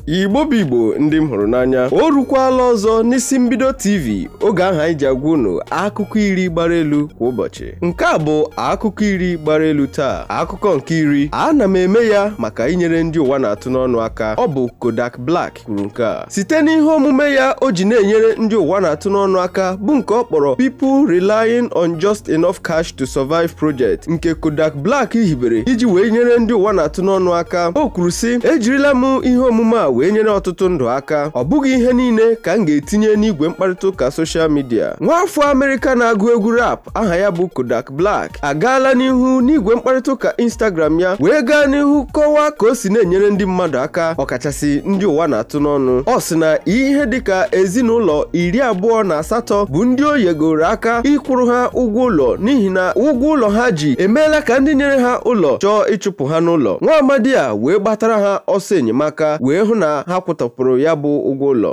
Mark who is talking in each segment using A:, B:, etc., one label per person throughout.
A: igbo bụ igbo ndị m hụrụ n'anya o rukwala ọzọ n'isi mbido tv oge ahụ anyị ji agwa unu akụkọ iri gbara elu kwa ụbọchị nke a bụ akụkọ iri gbara elu taa akụkọ nke iri ana m eme ya maka inyere ndị ụwa na-atụ n'ọnụ aka ọ bụ Kodak Black kwuru nke a site n'ihe omume ya o ji na-enyere ndị ụwa na-atụ n'ọnụ aka bụ nke ọ kpọrọ People Relying on Just Enough Cash to Survive Project nke Kodak Black hibere iji wee nyere ndị ụwa na-atụ n'ọnụ aka o kwuru sị ejirila m ihe omume a wee nyere ọtụtụ ndụ aka ọ bụghị ihe niile ka m ga-etinye n'igwe mkparịta ụka soshal midia nwaafọ Amerịka na-agụ egwu rap aha ya bụ Kodak Black agaala n'ihu n'igwe mkparịta ụka Instagram ya wee gaa n'ihu kọwaa ka o si na-enyere ndị mmadụ aka ọkachasị ndị ụwa na-atụ n'ọnụ ọ sị na ihe dịka ezinụlọ iri abụọ na asatọ bụ ndị o yegoro aka ịkwụrụ ha ụgwọ ụlọ n'ihi na ụgwọ ụlọ ha ji emeela ka ndị nyere ha ụlọ chọọ ịchụpụ ha n'ụlọ nwa amadi a wee gbatara ha ọsọ enyemaka wee hụ na ha kwụtọpụrụ ya bụ ụgwọ ụlọ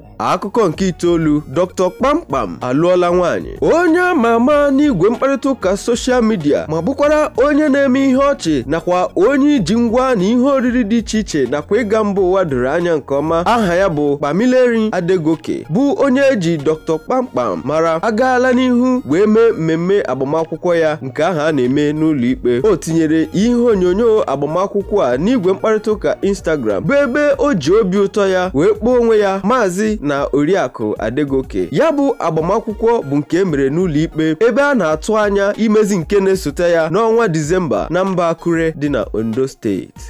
B: akụkọ nke
A: itoolu Dr. Pampam alụọla nwaanyị onye ama ama n'igwe mkparịta ụka soshal midia ma bụkwara onye na-eme ihe ọchị nakwa onye iji ngwa na ihe oriri dị iche iche nakwa ịga mba ụwa doro anya nke ọma aha ya bụ Pamilerin Adegoke bụ onye eji Dr. Pampam mara agaala n'ihu wee mee mmemme agbamakwụkwọ ya nke ahụ a na-eme n'ụlọ ikpe o tinyere ihe onyonyo agbamakwụkwọ a n'igwe mkparịta ụka Instagram bụ ebe o ji obi ụtọ ya wee kpọọ onwe ya maazị na oriakụ Adegoke ya bụ agbamakwụkwọ bụ nke e mere n'ụlọ ikpe ebe a na-atụ anya imezi nke na-esote ya n'ọnwa Disemba na mba Akure dị na Ondo steeti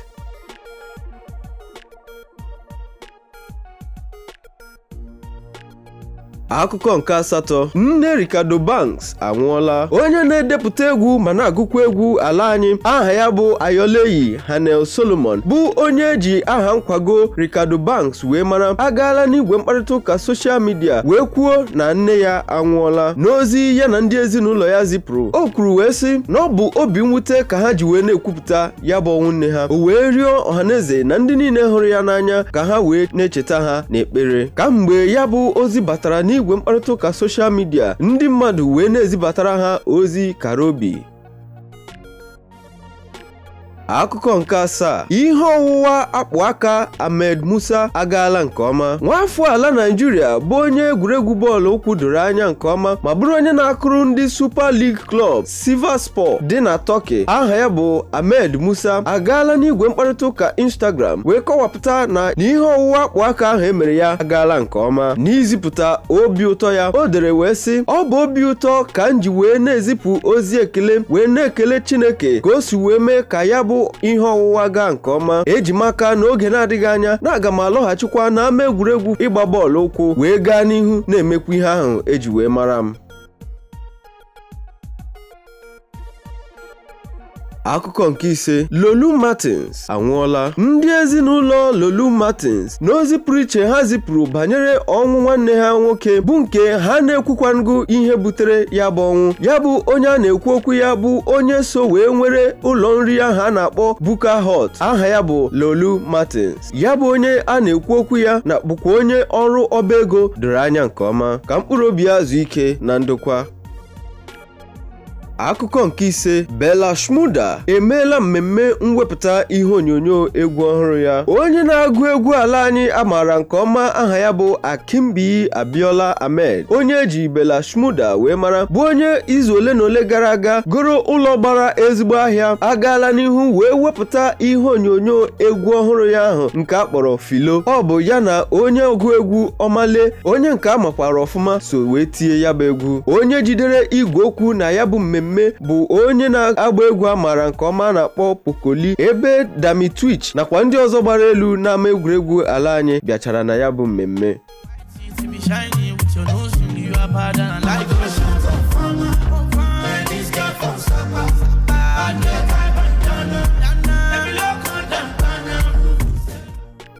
A: akụkọ nke asatọ nne Reekado Banks anwụọla onye na-edepụta egwu ma na-agụkwa egwu ala anyị aha ya bụ Ayoleyi Hanniel Solomon bụ onye eji aha nkwago Reekado Banks wee mara agaala n'igwe mkparịta ụka soshal midia wee kwuo na nne ya anwụọla n'ozi ya na ndị ezinụlọ ya zipụrụ o kwuru wee sị na ọ bụ obi mwute ka ha ji wee na-ekwupụta ya bụ ọnwụ nne ha o wee rịọ ọhaneze na ndị niile hụrụ ya n'anya ka ha wee na-echeta ha n'ekpere kamgbe ya bụ ozi batara n'igwe mkparịta ụka soshal midia ndị mmadụ wee na-ezibatara ha ozi kara obi akụkọ nke asaa ihe ọwụwa akpụ aka Ahmed Musa agaala nke ọma nwaafọ ala Naịjirịa bụ onye egwuregwu bọọlụ ụkwụ doro anya nke ọma ma bụrụ onye na-akụrụ ndị Super League Club Sivasspor dị na Turkey aha ya bụ Ahmed Musa agaala n'igwe mkparịta ụka Instagram wee kọwapụta na ihe ọwụwa akpụ aka ahụ emere ya agaala nke ọma n'izipụta obi ụtọ ya o dere wee sị ọ bụ obi ụtọ ka m ji wee na-ezipụ ozi ekele wee na-ekele Chineke ka o si wee mee ka ya bụ ihe ọwụwa gaa nke ọma eji m aka n'oge na-adịghị anya na aga m alọghachikwa n'ama egwuregwu ịgba bọọlụ ụkwụ wee gaa n'ihu na-emekwa ihe ahụ eji wee mara m akụkọ nke ise Laolu Martins anwụọla ndị ezinụlọ Laolu Martins n'ozi pụrụ iche ha zipụrụ banyere ọnwụ nwanne ha nwoke bụ nke ha na-ekwukwango ihe butere ya bụ ọnwụ ya bụ onye a na-ekwu okwu ya bụ onye so wee nwere ụlọ nri ahụ a na-akpọ Bukka Hut aha ya bụ Laolu Martins ya bụ onye a na-ekwu okwu ya na-abụkwa onye ọrụ ọba ego doro anya nke ọma ka mkpụrụ obi ya zuo ike na ndokwa akụkọ nke ise Bella Shmurda emeela mmemme mwepụta ihe onyonyo egwu ọhụrụ ya onye na-agụ egwu ala anyị a maara nke ọma aha ya bụ Akinbiyi Abiola Ahmed onye eji Bella Shmurda wee mara bụ onye izu ole na ole gara aga goro ụlọ gbara ezigbo ahịa agaala n'ihu wee wepụta ihe onyonyo egwu ọhụrụ ya ahụ nke a kpọrọ Philo ọ bụ ya na onye ọgụ egwu Omah Lay onye nke a makwara ọfụma so wee tie ya bụ egwu onye jidere igwe okwu na ya bụ mmemme bụ onye na-agba egwu a maara nke ọma a na-akpọ Poco Lee ebe Dammy Twitch nakwa ndị ọzọ gbara elu n'ama egwuregwu ala anyị bịachara na ya bụ mmemme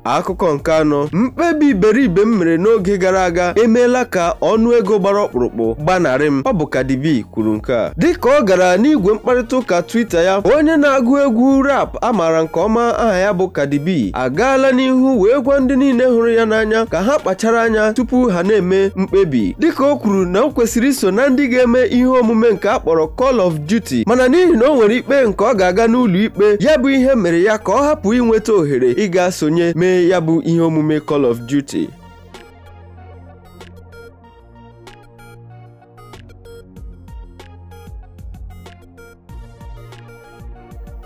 A: akụkọ nke anọ mkpebi iberibe m mere n'oge gara aga emeela ka ọnụ ego gbara ọkpụrụkpụ gbanarị m ọ bụ Cardi B kwuru nke a dịka ọ gara n'igwe mkparịta ụka Twitter ya onye na-agụ egwu rap a maara nke ọma aha ya bụ Cardi B agaala n'ihu wee gwa ndị niile hụrụ ya n'anya ka ha kpachara anya tupu ha na-eme mkpebi dịka o kwuru na o kwesịrị iso na ndị ga-eme ihe omume nke a kpọrọ Call of Duty mana n'ihi na o nwere ikpe nke ọ ga-aga n'ụlọ ikpe ya bụ ihe mere ya ka ọ hapụ inweta ohere ịga sonye mee ya bụ ihe omume Call of Duty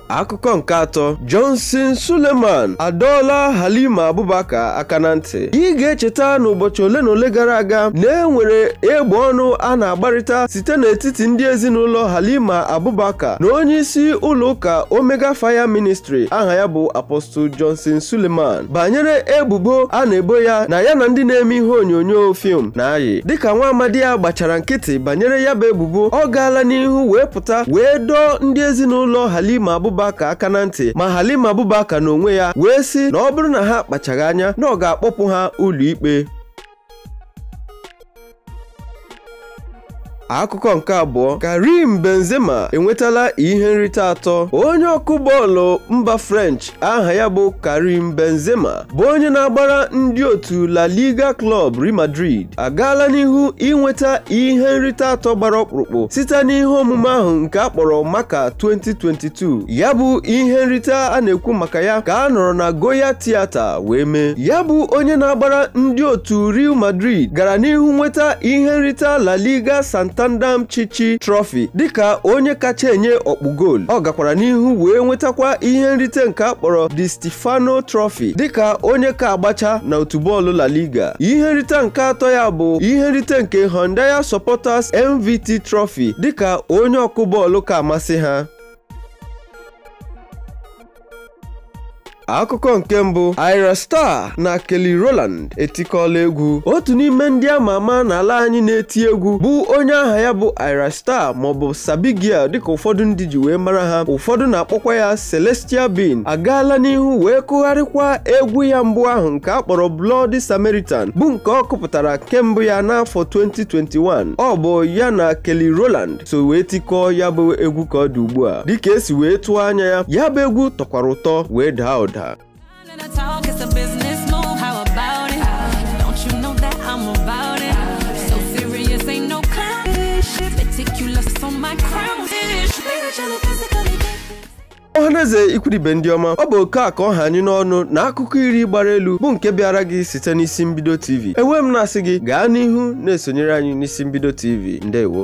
A: akụkọ nke atọ Johnson Suleman adọọla Halima Abubakar aka na ntị ị ga-echeta n'ụbọchị ole na ole gara aga na e nwere egbe ọnụ a na-agbarịta site n'etiti ndị ezinụlọ Halima Abubakar na onye isi ụlọ ụka Omega Fire Ministry aha ya bụ Apostle Johnson Suleman banyere ebubo a na-ebo ya na ya na ndị na-eme ihe onyonyo fim na-ayị dịka nwa amadi a gbachara nkịtị banyere ya bụ ebubo ọ gaala n'ihu wee pụta wee dọọ ndị ezinụlọ Halima Abubakar aka na ntị ma Halima Abubakar n'onwe ya wee sị na ọ bụrụ na ha akpachaghị anya na ọ ga-akpọpụ ha ụlọikpe akụkọ nke abụọ Karim Benzema enwetala ihe nrite atọ onye ọkụ bọọlụ mba French aha ya bụ Karim Benzema bụ onye na-agbara ndị otu La Liga Club Real Madrid agaala n'ihu inweta ihe nrite atọ gbara ọkpụrụkpụ site n'ihe omume ahụ nke a kpọrọ Marca 2022 ya bụ ihe nrite a na-ekwu maka ya ka a nọrọ na Goya Theatre wee mee ya bụ onye na-agbara ndị otu Real Madrid gara n'ihu nweta ihe nrita La Liga Santander Pichichi Trophy dịka onye kacha enye ọkpụ goolu ọ gakwara n'ihu wee nwetakwa ihe nrite nke a kpọrọ Di Stefano Trophy dịka onye ka agbacha na otu bọọlụ La Liga ihe nrite nke atọ ya bụ ihe nrite nke Hyundai Supporters MVP Trophy dịka onye ọkụ bọọlụ ka amasị ha akụkọ nke mbụ Ayra Starr na Kelly Rowland etikọọla egwu otu n'ime ndị ama ama n'ala anyị na-eti egwu bụ onye aha ya bụ Ayra Starr maọbụ Sabi Girl dịka ụfọdụ ndị ji wee mara ha ụfọdụ na-akpọkwa ya Celestial Being agaala n'ihu wee kụgharịkwa egwu ya mbụ ahụ nke a kpọrọ Bloody Samaritan bụ nke ọ kụpụtara nke mbụ ya n'afọ 2021 ọ bụ ya na Kelly Rowland so wee tikọọ ya bụ egwu ka ọ dị ugbu a dịka e si wee tụọ anya ya ya bụ egwu tọkwara ụtọ wee daa ụda ọhaneze ikwu na ibe ndị ọma ọ bụ oke a ka ọ ha anyị n'ọnụ na akụkọ iri gbara elu bụ nke bịaara gị site n'isi mbido tv ewee m na-asị gị gaa n'ihu na-esonyere anyị n'isi mbido tv ndewo